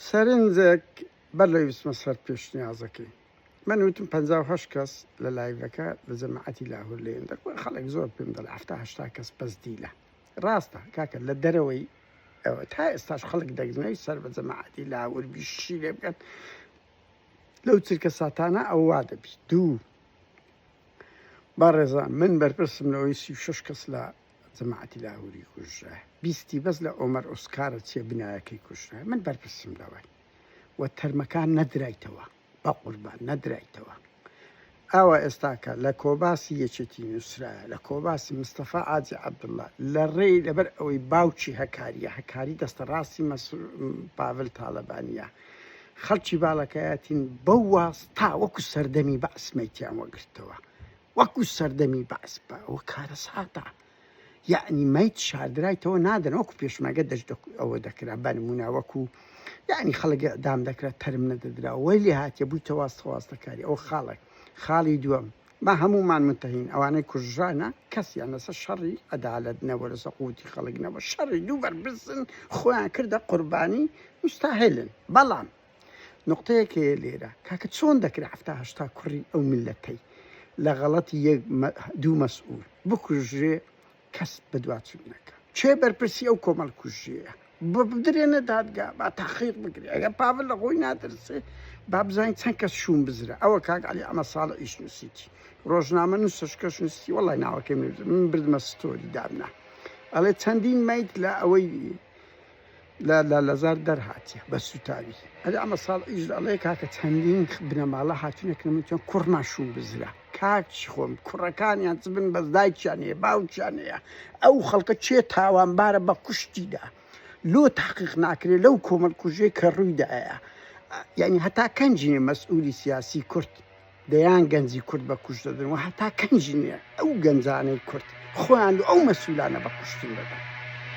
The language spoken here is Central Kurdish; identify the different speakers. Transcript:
Speaker 1: سەرنجێک بەر لەوەی بچمە سەر پێشنیازەکەی من وتم پەنجا و هەشت کەس لە لایڤەکە لە جەماعەتی لاهور لێن دەکوە خەڵک زۆر پێم دەڵێ هەفتا هەشتا کەس بەس دیلە ڕاستە کاکە لە دەرەوەی ئەوە تا ئێستاش خەڵک دەگرنەوەی سەر بە جەماعەتی لاهور بیشی لێ بکەن لەو چرکە ساتانە ئەووا دەبیت دوو بەڕێزان من بەرپرسم لەوەی سی و شەش کەس لە جەماعەتی لاهوری کوژرا بیستی بەس لە ئۆمەر ئۆسکارە چیە بنایەکەی کوژرا من بەرپرسم لەوەی و تەرمەکان نەدرایتەوە بە قوربان نەدرایتەوە ئاوا ئێستاکە لە کۆباسی یەکێتی نووسرا لە کۆباسی مستەفا ئاجی عبدله لە ڕێی لەبەر ئەوەی باوکی هەکاریە هەکاری دەستە ڕاستی پاڤل تاالبانە خەڵکی باڵەکەیەتین بەو واز تا وەکو سەردەمی بە ئەسمەیتیان وەگرتەوە وەکو سەردەمی بەعس بە ئەوە کارەساتە یعنی میت شاردرایتەوە نادەن وەکو پێشمەگە دەشت ئەوە دەکرا بەنمونە وەکو یعنی خەڵک دام دەکرا تەرم نەدەدرا وەی لێ هااتێ بووی تەواستەواستەکاری ئەو خاڵک خاڵی دووەم ما هەمومان منتەهین ئەوانەی کوژرانە کەسیان لەسە شەڕی عدالت نەوە لەسە قوتی خەڵک نەوە شەڕی دوو بەربزن خۆیان کردە قوربانی مستاهلن بەڵام نوقتەیەک هەیە لێرە کاکە چۆن دەکرێت حفتا هەشتا کوڕی ئەو میلەتەی لە غەڵەتی یەک دوو مەسئول بکوژرێ کەس بەدواچوون نەکا چێ بەرپرسی ئەو کۆمەڵ کوژیەیە بۆ بدرێنە دادگا با تاخیق بگرێ ئەگە پاڤل لە خۆی نادرسێ با بزانین چەند کەس شوون بزرە ئەوە کاک علی ئەمە ساڵە ئیش نووسیتی ڕۆژنامە نووسش کەش نووسی وڵی ناوەکەی من بردمە ستۆری دابنا ئەڵێ چەندین میت لە ئەوەی لە لالەزار دەرهاتیە بە سوتاوی. ئەرێ ئەمە ساڵ ئیش ئەڵێ کاکە چەندین بنەماڵە هاتونە کە نەموتیان کوڕمان شوو بزرە کاکی خۆم کوڕەکانیان چ بن بەس دایکیان هەیە باوکیان هەیە ئەو خەڵکە چێ تاوانبارە بە کوشتیدا لۆ تاقیق ناکرێت لەو کۆمەڵ کوژێ کە ڕوویدایە یعنی هەتا کەنجینێ مەسئولی سیاسی کورد دەیان گەنجی کورد بە کوش دەدن و هەتا کەنجینێ ئەو گەنجانەی کورد خۆیان ئەو مەسولانە بە کوشتن دەدەن